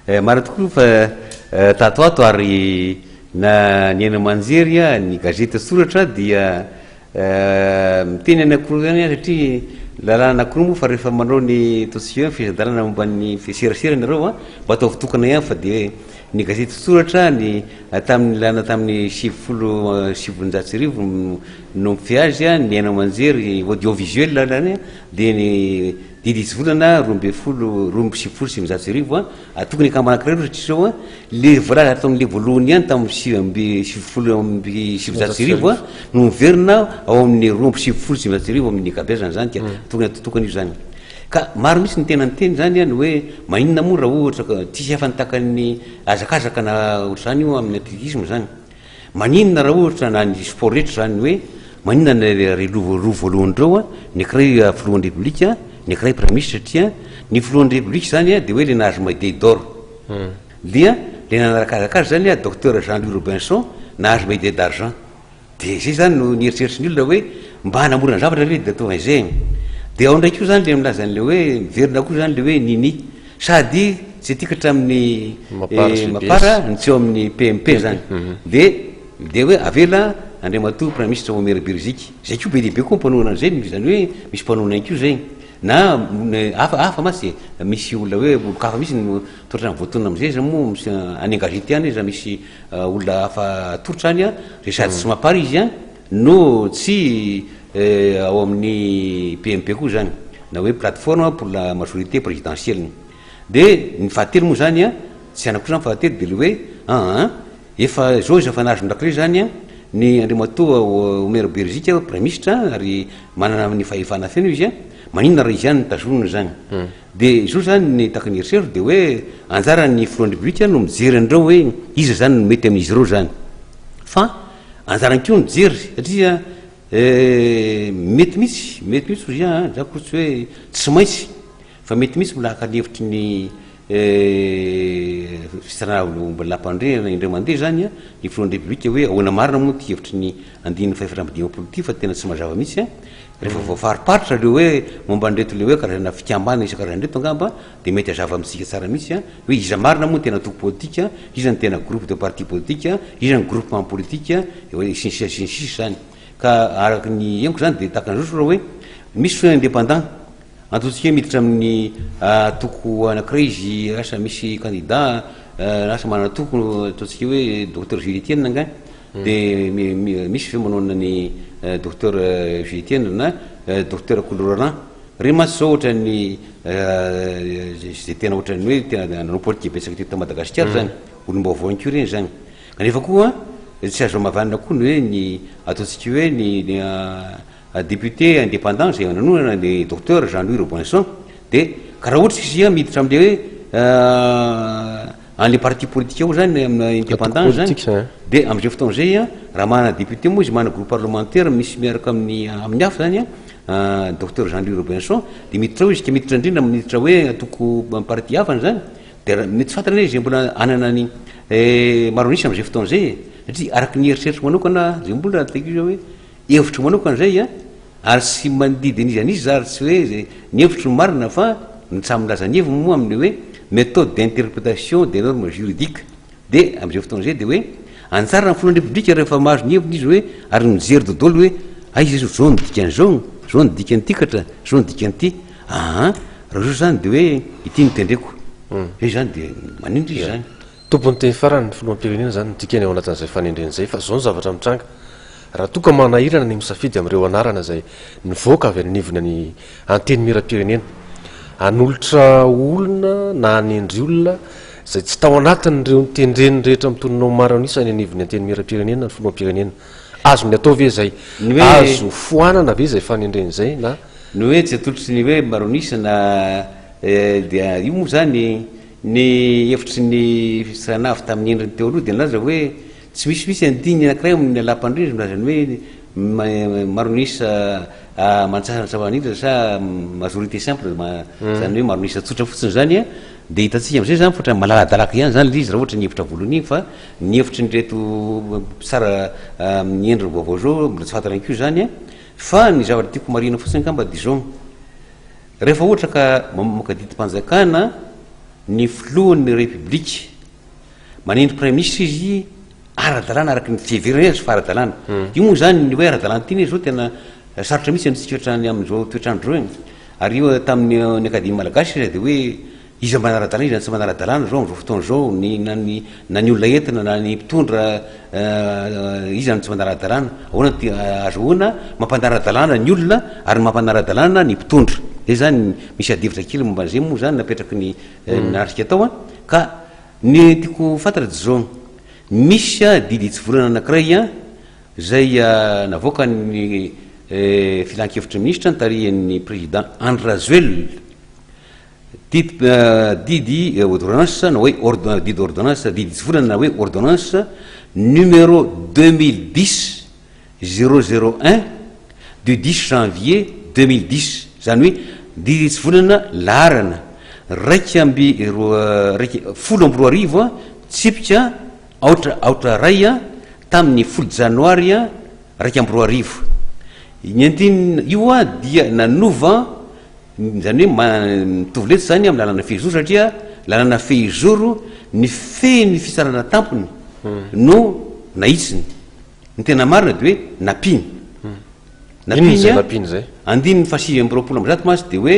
Marina tokoa fa tato ato ary na ny haino aman-jery a, ny gazety soratra dia miteny an'akoho ihany satria lalàna an'akoho moa fa rehefa manao ny ataontsika hoe ny fehezan-dalàna momba ny serasera ianareo a, mba ataovy tokana ihany fa dia ny gazety soratra ny tamin'ny lalàna tamin'ny sivifolo sy sivinjato sy arivo no mifehy azy a, ny haino aman-jery audiovisuel zany a dia ny Didy izy volana roa ambin'ny folo, roa amby sivifolo sy sivinjato sy arivo, atokony ny akambana anankiray ohatra izao, ilay voalaza tamin'ilay voalohany ihany tamin'ny sivy amby sivifolo amby sivinjato sy arivo no miverina ao amin'ny roa amby sivifolo sy sivinjato sy arivo amin'ny ankabeazany izany dia hmm. tokony atao tokana io izany. Ka maro mihitsy ny tena niteny izany ny hoe maninona moa raha ohatra ka tsisy afa-ny takan'ny hazakazaka na ohatr'izany io amin'ny atletisme izany. Maninona raha ohatra na ny sport rehetra izany ny hoe maninona ny ry roa voalohany ireo ny ankiray filohan'ny repoblika ny ankiray praiministra satria ny filohan'ny repoblika izany dia hoe ilay nahazo medaille d'or dia ilay nanarakazaka azy izany docteur Jean Louis Robinson nahazo medaille d'argent dia izay izany no nieritreritry ny olona hoe mba hanamora ny zavatra ve dia ataovy an'izay e dia ao indray koa izany ilay milaza an'ilay hoe miverina koa izany ilay hoe nini Sady tsy tiako hatramin'ny Mapar ny tsy eo amin'ny PMP zany. Dia dia hoe avela Andriamatoa Praiminisitra Omeri Beriziky. Zay koa be dia be koa mpanohana an'izay, izany hoe misy mpanohana ihany koa izay. Na hafa hafa mantsy dia misy olona hoe olon-kafa mihitsy no toa ohatran'ny voatonona amin'izay. Zay moa any an-gazety any iza misy olona hafa atolotra any an, dia sady tsy Mapar izy an. No tsy eh, ao amin'ny PMP koa izany, na hoe plateforme pour la majorité présidentielle. Dia ny fahatelo moa izany an, tsy anako izany fahatelo, dia ilay hoe an an, efa izao izy efa nahazo indrakilay izany an, ny Andriamatoa Omer Beriziky an, Praiminisitra an, ary manana ny fahefana feno izy an, maninona raha izy ihany no tazonina izany. Dia izao izany ny tahaka ny eritreriko dia hoe anjaran'ny Filohan'ny Repoblika no mijery an'ireo hoe iza izany no mety amin'izy ireo izany. Fa. Anjarany koa ny mijery satria mety mihitsy, mety mihitsy hoy an, zany ko tsy hoe tsy maintsy fa mety mihitsy mbola haka ny hevitry ny fitranaham-bolampandriana indray mandeha izany an, ny filohan'ny Repoblika hoe ahoana marina moa ity hevitry ny andininy fahefatra amby dimampolo ity fa tena tsy mazava mihitsy an, rehefa voafariparitra ireo hoe momba an'ireto le hoe karazana fikambanana isan-karazany ireto angamba Dia mety hazava amintsika tsara mihitsy an, hoe iza marina moa no tena antoko politika, iza no tena groupe de parti politika, iza no groupement politika, eo hoe sy ny sisa sy ny sisa izany. Ka araka ny henoko izany dia tahaka an'izao raha hoe misy fotoana indépendant, antontsika hoe miditra amin'ny antoko anankiray izy, asa misy candidat an, asa manana antoko, ataontsika hoe docteur Jules Etienne angaha, dia misy ve manao an'i docteur Jules Etienne na docteur Kolo Roland, Re mantsy zao ohatran'ny ze tena ohatran'ny hoe tena nanao politika betsaka teto Madagasikara zany, olom-baovao ihany koa reny zany. Kanefa koa tsy azo hamavanana koa ny hoe ny ataontsika hoe ny député indépendant zay nanonana ny Docteur Jean Louis Robinson de ka raha ohatra izy miditra amle hoe any le parti politique ao zany amina indépendant zany de amzay fotoana zay raha manana député moa izy manana groupe parlementaire misy miaraka amin'ny amin'ny hafa zany Docteur Jean Louis Robinson dia miditra ao izy ka miditra indrindra amin'ny miditra hoe antoko parti hafa an'izany dia mety tsy fantatra ilay izy izay mbola hanana ny maro an'isa amin'izay fotoana izay e satria araka ny heritreritro manokana izay mbola raha taikio izao hoe hevitro manokana izay a ary tsy mandidy an'iza an'iza za ary tsy hoe izay ny hevitro no marina fa ny samy milaza ny heviny moa amin'ny hoe méthode d'interprétation des normes juridiques Dia amin'izay fotoana izay dia hoe anjaran'ny filohan'ny Repoblika rehefa mahazo ny heviny izy hoe ary mijery dodolo hoe aiza izy izao ny dikan'izao, izao ny dikan'ity katra, izao ny dikan'ity. Aa raha izao izany dia hoe ity no tendreko. Hmm. Izay izany dia maninona izy izany? Tompon'ny teny farany ny filoham-pirenena izany ny dikany ao anatin'izay fanendrena izay fa izao ny zavatra mitranga. Raha toa ka manahirana ny misafidy amin'ireo anarana izay nivoaka avy any anivona ny Antenimieram-pirenena hanolotra olona na hanendry olona izay tsy tao anatin'ireo notendreny rehetra amin'ny tononao maro an'isa any anivon'ny Antenimierampirenena ny Filoham-pirenena. Azony atao ve izay? Ny hoe Azo foanana ve izay fanendrena izay na? Ny hoe tsy atolotry ny hoe maro an'isa na dia io moa izany ny hevitry ny fidistrana avy tamin'ny endriny teo aloha dia nilaza hoe tsy misy mihitsy andininy anankiray ao amin'ny Lalàmpandria izay milaza ny hoe maro an'isa aman-tsara ny zava-manitra sa majorité simple izany hoe maro an'isa tsotra fotsiny izany Dia hitantsika amin'izay izany fa ohatran'ny malaladalaka ihany izany ilay izy raha ohatra ny hevitra voalohany iny fa ny hevitry an'ireto mpitsara amin'ny endriny vaovao izao mbola tsy fantatra ihany koa izany an! Fa ny zavatra tiako homarihina fotsiny angamba dia izao, rehefa ohatra ka mamoaka didim-panjakana ny filohan'ny Repoblika, Manenty Praiminisitra izy ara-dalàna araka ny fiheverany azy fa ara-dalàna. Io moa izany ny hoe ara-dalàna tiany izao tena sarotra mihitsy amintsika hatrany amin'izao toetr'andro izao e. Ary io tamin'ny ny Akademia Malagasy aza dia hoe iza manara-dalàna iza no tsy manara-dalàna izao amin'izao fotoana izao ny na ny na ny olona entina na ny mpitondra iza no tsy manara-dalàna. Ahoana no ahazoana mampanara-dalàna ny olona ary mampanara-dalàna ny mpitondra. Izay izany, misy adihevitra kely momba an'izay moa izany napetraky ny naharitra tao ka. Ny tiako ho fantatra dia izao, misy didy hitsivolana anankiray izay navoakan'ny Filankevitry ny Minisitra nitarihan'ny Président Andry Rajoelina, didy Odoranasa na hoe didy ordonnance, didy hitsivolana na hoe ordonnance numéro deux mille dix, Zéro zéro un du dix janvier deux mille dix, izany hoe Diritsy Volana laharana iraika amby roa iraika folo amby roa arivo a, tsipika aotra aotra iray a, tamin'ny folo Janoary a iraika amby roa arivo. Ny andininy io a dia nanova, izany hoe ma- mitovy letsy izany amin'ny lalana fehizoro satria lalana fehizoro ny fehin'ny fitsarana tampony no nahitsiny. Ny tena marina dia hoe nampiny. Inona izay nampiny izay? Andininy fahasivy amby roapolo amby zato mantsy dia hoe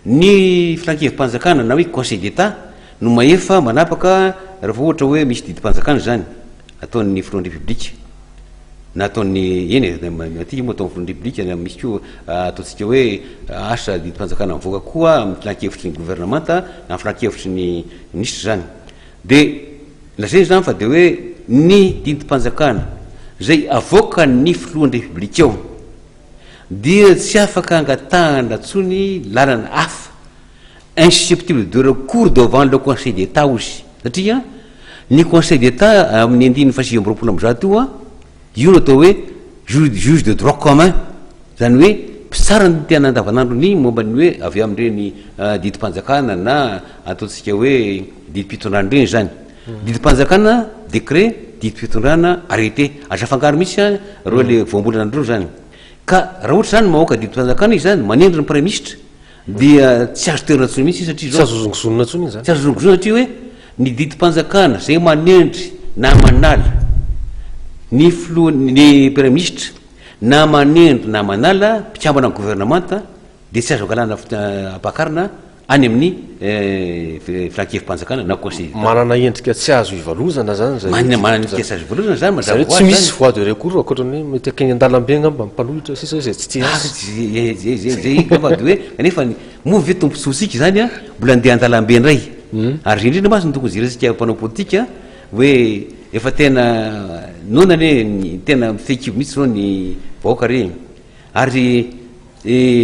ny Filan-kevi-panjakana na hoe Conseil d'Etat no mahefa manapaka raha vao ohatra hoe misy didim-panjakana izany ataon'ny Filohan'ny Repoblika na ataon'ny, eny e, aty io moa ataon'ny Filohan'ny Repoblika na misy koa ataontsika hoe asa didim-panjakana mivoaka koa amin'ny Filan-kevitry ny Governemanta na amin'ny Filan-kevitry ny Minisitra izany. Dia lazaina izany fa dia hoe ny didim-panjakana izay avoakan'ny filohan'ny Repoblika ao dia tsy afaka angatahana intsony lalana hafa, insusceptible de recours devant le Conseil d'Etat hozy, satria ny Conseil d'Etat amin'ny andininy fahasivy amby roapolo amby zato io an, Io no atao hoe juge juge de droit commun, izany hoe mpitsara ny tena andavanandro ny momba ny hoe avy amin'ireny didim-panjakana na ataontsika hoe didim-pitondrana ireny izany. Didim-panjakana, décret, didim-pitondrana, arrêté. Aza afangaro mihitsy an, ireo ilay voambolana anareo izany. Ka raha ohatra izany mamoaka didim-panjakana izy izany, manendry ny praiminisitra, dia tsy azo toerana intsony mihitsy io satria izao, tsy azo zongozonina intsony izany, tsy azo zongozonina satria hoe ny didim-panjakana izay manendry na manala ny filoha, ny praiministra na manendry na manala mpikambana amin'ny governemanta dia tsy azo angalana ampakarina any amin'ny filan-kevi-panjakana na conseil d'Etat. Manana endrika tsy azo ivalozana izany izay hoe, manana endrika tsy azo ivalozana izany, mazava ho azy izany, tsy misy voie de recours ankoatra ny hoe mety akeny an-dalambe angamba ny mpanohitra sisa izay tsy tia azy. Zezezezezey fa de hoe kanefa ny moa ve tombontsoantsika izany a mbola andeha an-dalambe indray ary zay indrindra mantsy no tokony jerentsika mpanao politika hoe efa tena noana anie ny tena mifehy kibo mihitsy zao ny vahoaka re ary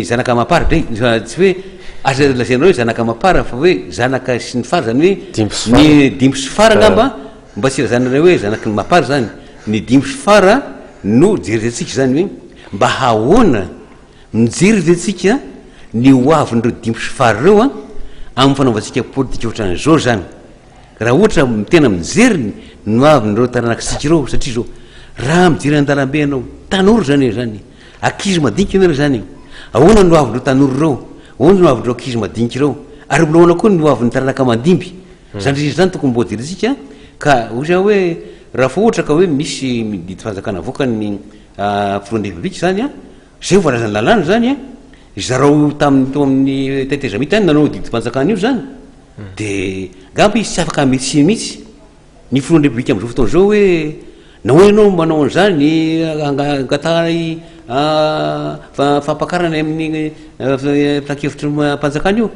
zanaka amam-para dray tsy hoe aza lazaina hoe zanaka amam-para fa hoe zanaka sy ny fara izany hoe ny dimy sy fara angamba mba tsy ilazana ilay hoe zanaky ny mapara izany ny dimy sy fara no jerentsika izany hoe Mba hahoana? Mijery ve tsika ny ho avin'ireo dimy sy fara ireo an? Amin'ny fanaovantsika politika ohatran'izao izany. Raha ohatra tena mijery ny ho avin'ireo taranakitsika ireo, satria izao, raha mijery an-dalambe ianao, tanora izany e, izany e, ankizy madinika ianareo izany e, ahoana ny ho avin'ireo tanora ireo, ahoana ny ho avin'ireo ankizy madinika ireo, ary mbola ahoana koa ny ho avin'ny taranaka mandimby? Izany rehetra izany tokony mba hojerentsika, ka hoy za hoe, raha fa ohatra ka hoe misy didim-panjakana avoakan'ny Afovoan'ny Repoblika izany an! Izay voalazan'ny lalàna izany an! Zarao tamin'ny tao amin'ny tetezamita any nanao didim-panjakana io izany dia angamba izy tsy afaka hamely tsiny mihitsy ny Filohan'ny Repoblika amin'izao fotoana izao hoe nahoana ianao manao an'izany angatahana fampakarana amin'ny filankevitry ny mpanjakana io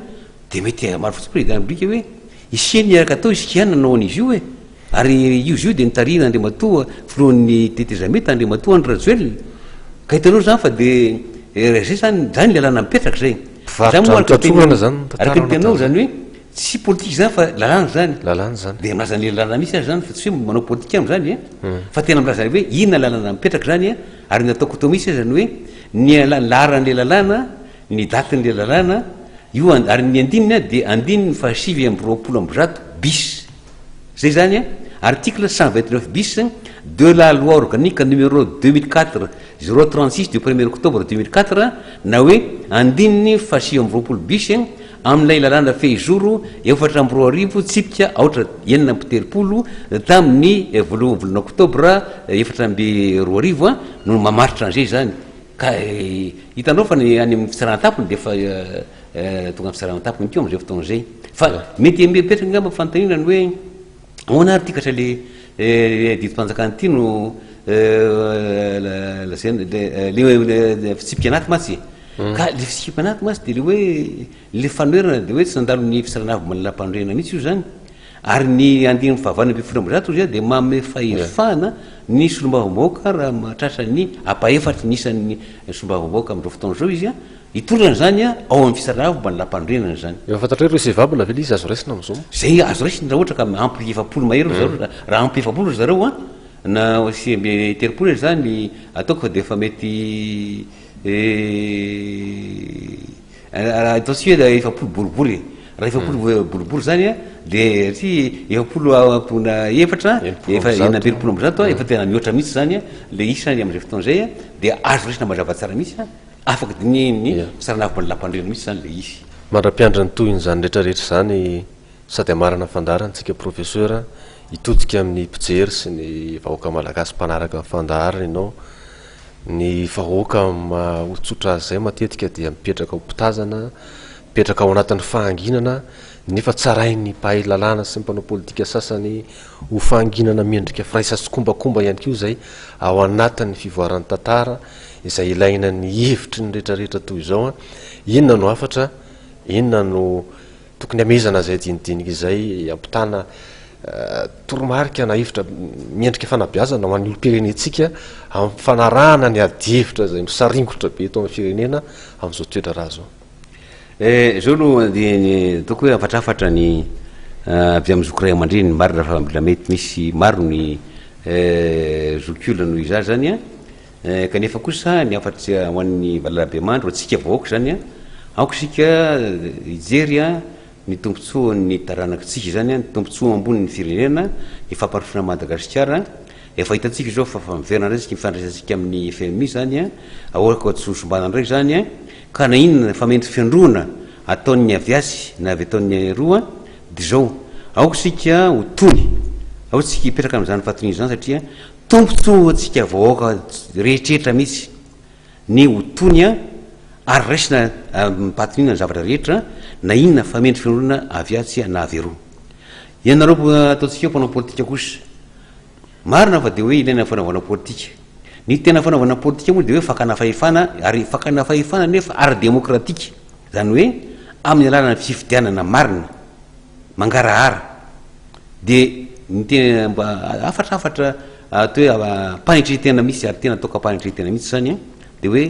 dia mety hamaro fotsiny ny Prezidan'ny Repoblika hoe isia ny araka atao isika ihany nanao an'izy io e! Ary io izy io dia nitarihin' Andriamatoa Filohan' ny Tetezamita, Andriamatoa Andry Rajoelina. Ka hitanao izany fa dia izay izany, izany ny lalàna mipetraka izay. Mpivarotra amin'ny tratrorana izany ny tantaranao tamin'izay. Araka ny teninao izany hoe tsy politika izany fa lalàna izany. Lalàna izany. Dia milaza an'ilay lalàna mihitsy aza izany fa tsy hoe manao politika aminy izany e. Fa tena milaza hoe inona ny lalàna mipetraka izany e. Ary ny ataoko eto mihitsy aza ny hoe ny laharan'ilay lalàna, ny datin'ilay lalàna, io ary ny andininy dia andininy fahasivy amby roapolo amby zato bis. Zay izany an! Article cent vingt neuf bis de la loi organique numéro deux mille quatre zéro trente six du premier octobre deux mille quatre na hoe andininy fahasivy amby roapolo bis amin'ilay lalàna fehizoro efatra amby roa arivo tsipika aotra enina amby telopolo tamin'ny voalohan'ny volana oktobra efatra amby roa arivo no mamaritra an'izay izany. Ka hitanao fa ny any amin'ny fitsarana an-tampony dia efa tonga amin'ny fitsarana an-tampony koa amin'izay fotoana izay. Fa mety hamieritreritra angamba ny fanontaniana ny hoe ahoana ary ity ka sa ilay didim-panjakana ity no lazaina ilay fitsipika anaty mantsy e? Ka ilay fitsipika anaty mantsy dia ilay hoe ilay fanoherana dia hoe tsy nandalo ny fitsarana avy manalampanorenana mihitsy io izany. Ary ny andininy fahavalo ambin'ny folo amby zato izay dia manome fahefana ny solombavambahoaka raha mahatratra ny ampahefatry ny isan'ny solombavambahoaka amin'izao fotoana izao izy hitondra an'izany ao amin'ny fisarahana fomba ny lampanorenana izany. Efa fantatrao irrecevable ve ilay izy azo raisina amin'izao? Izay azo raisina raha ohatra ka ampy efapolo mahery ry zareo, raha ampy efapolo ry zareo na sivy amby telopolo aza izany ataoko fa dia efa mety Raha ataontsika hoe raha efapolo boribory e, raha efapolo hmm. eh, boribory izany a, dia tsy efapolo ampona efatra, efa enina ambin'ny folo ambizato a, hmm. efa tena mihoatra mihitsy izany a, ilay isany amin'izay fotoana izay a, dia azo resina mazava tsara mihitsy a, afaka dinihin'ny saranavy manalampandrena mihitsy izany ilay izy. Mandra-piandra ny tohin'izany rehetrarehetra izany sady amarana fandaharana antsika professeur hitodika amin'ny mpijery sy ny vahoaka malagasy mpanaraka ny fandaharana ianao Ny vahoaka mahotsotra azy izay matetika dia mipetraka ho mpitazana, mipetraka ao anatin'ny fahanginana, nefa tsarain'ny mpahay lalàna sy ny mpanao politika sasany ho fahanginana miendrika firaisan-tsikombakomba ihany koa izay ao anatin'ny fivoaran'ny tantara izay ilaina ny hevitry ny rehetrarehetra toy izao, inona no hafatra, inona no Tokony hamehezana izay dinidinika izay hampitana toromarika na hevitra miendrika fanabeazana ho an'ny olom-pirenentsika amin'ny fanarahana ny adihevitra izay misaringotra be eto amin'ny firenena amin'izao toedraharaha izao. Eh, izao no ataoko hoe afatrafatra ny eh, avy amin'ny zoky ray aman-dreny, marina fa mbola mety misy maro ny eh, zokiolona noho izaho izany an. Eh, kanefa kosa ny hafatry ho an'ny valalabemandry ho antsika vahoaka izany an, aoka isika hijery an ny tombontsoan'ny taranakitsika izany an, ny tombontsoa ambonin'ny firenena, ny fampandrosoana an'i Madagasikara. Efa hitantsika izao fa efa miverina indray isika ny fifandraisantsika amin'ny FMI izany an, aoka tsy ho simbana indray izany an, ka na inona famentrofiandroana ataon'ny avy atsy na avy ataon'ny eroa dia izao aoka isika ho tony, aoka isika hipetraka amin'izany fahatoniana izany satria Tombotsoa ho antsika vahoaka rehetretra mihitsy ny ho tony an, ary raisina amim-pahatoniana ny zavatra rehetra na inona famendry fironana avy atsy na avy eroa. Ianareo ataontsika hoe mpanao politika kosa, marina fa dia hoe ilaina ny fanaovana politika. Ny tena fanaovana politika moa dia hoe fakana fahefana, ary fakana fahefana nefa ara-demokratika, izany hoe amin'ny alalan'ny fifidianana marina. mangarahara de ny tena mba hafatra hafatra atao hoe ampahantre tena mihitsy ary tena ataoko ampahantre tena mihitsy zany an de hoe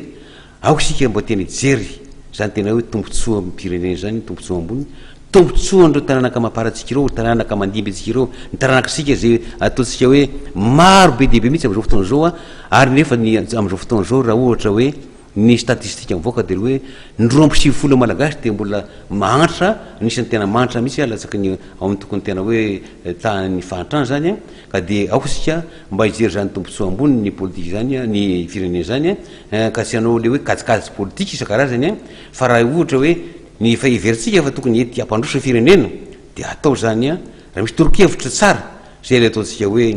aoka isika mba tena hijery zany tena hoe tombontsoa amin'ny firenena zany tombontsoa ambony tombontsoa an'ireo taranaka amam-parantsika ireo taranaka mandimby antsika ireo ny taranak'isika zay ataontsika hoe maro be dia be mihitsy amin'izao fotoana izao an ary nefa ny amin'izao fotoana izao raha ohatra hoe Ny statistika mivoaka dia ny hoe ny roa amby sivifolo eo Malagasy dia mbola mahantra, anisan'ny tena mahantra mihitsy ah, latsaky ny ao amin'ny tokony tena hoe tahan'ny fahantrana izany an, ka dia aoka isika mba hijery izany tombontsoa ambony ny politika izany an, ny firenena izany an, ka tsy hanao ilay hoe kajikajy politika isan-karazany an, fa raha ohatra hoe ny efa heverintsika fa tokony hety hampandroso ny firenena dia hatao izany an, raha misy toronkevitra tsara Izay ilay ataontsika hoe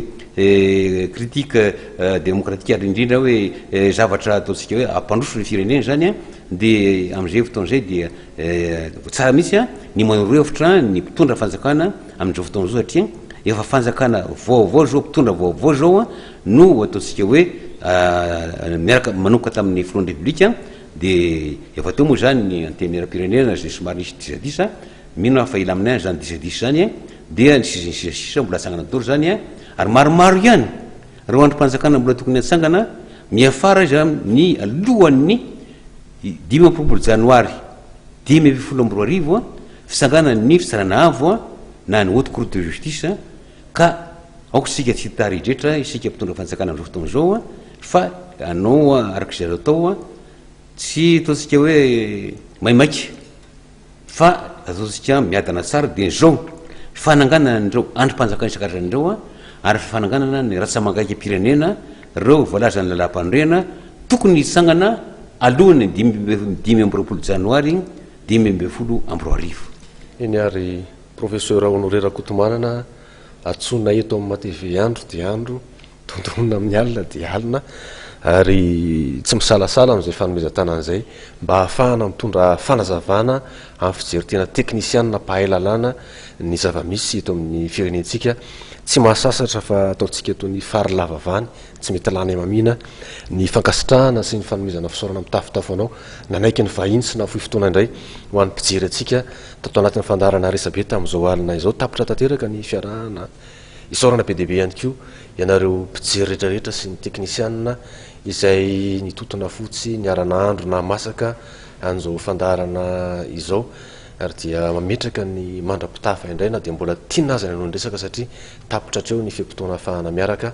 critique démocratique ary indrindra hoe zavatra ataontsika hoe hampandroso ny firenena izany dia amin'izay fotoana izay dia tsara mihitsy ny manoro hevitra ny mpitondra fanjakana amin'izao fotoana izao satria efa fanjakana vaovao izao mpitondra vaovao izao no ataontsika hoe miaraka manomboka tamin'ny filohan'ny repoblika dia efa teo moa izany ny antenimierampirenena izay somary nisy disadisa Mino aho fa ela aminay any zany disadisa zany eh, dia ny sisa ny sisa sisa mbola atsangana daholo zany eh, ary maromaro ihany reo andrim-panjakana mbola tokony atsangana miafara izy amin'ny alohan'ny dimy amby roapolo janoary dimy ambin'ny folo amby roa arivo a fitsanganan'ny fitsarana avo a na ny haute cour de justice a ka aoka isika tsy hitary hidretra isika mpitondra fanjakana amin'izao fotoana izao a fa anao arak'izay azo atao a tsy ataontsika hoe maimaika Fa ajotsika miadana tsara dia izao, fananganana an'ireo andrim-panjakana isan-karazany ireo ary fananganana ny ratsa-mangaikam-pirenena, ireo voalazan'ny Lalàm-panorenana, tokony hitsangana alohan'ny dimy amby roapolo janoary dimy ambin'ny folo amby roa arivo. Eny ary, Profesora Honoré Rakotomanana, antsoina eto amin'ny Matv andro dia andro Dondrona amin'ny alina dia alina ary tsy misalasala amin'izay fanomezan-tanana izay mba hahafahana mitondra fanazavana amin'ny fijery tena teknisianina mpahay lalàna ny zava-misy eto amin'ny firenentsika. Tsy mahasasatra fa ataontsika eto ny fary lava vany tsy mety lany hamamiana ny fankasitrahana sy ny fanomezana fisaorana mitafotafo anao nanaiky ny vahiny sy nahafoy fotoana indray ho an'ny mpijery antsika tato anatin'ny fandaharana resabe tamin'izao alina izao. Tapitra tanteraka ny fiarahana. Isaorana be dia be ihany koa ianareo mpijery rehetra rehetra sy ny teknisianina izay nitotona fo tsy niara-nahandro na masaka an'izao fandaharana izao ary dia mametraka ny mandra-pitaha fa indray na dia mbola tiana aza ny hanao ny resaka satria tapitra hatreo ny fe-potoana ahafahana miaraka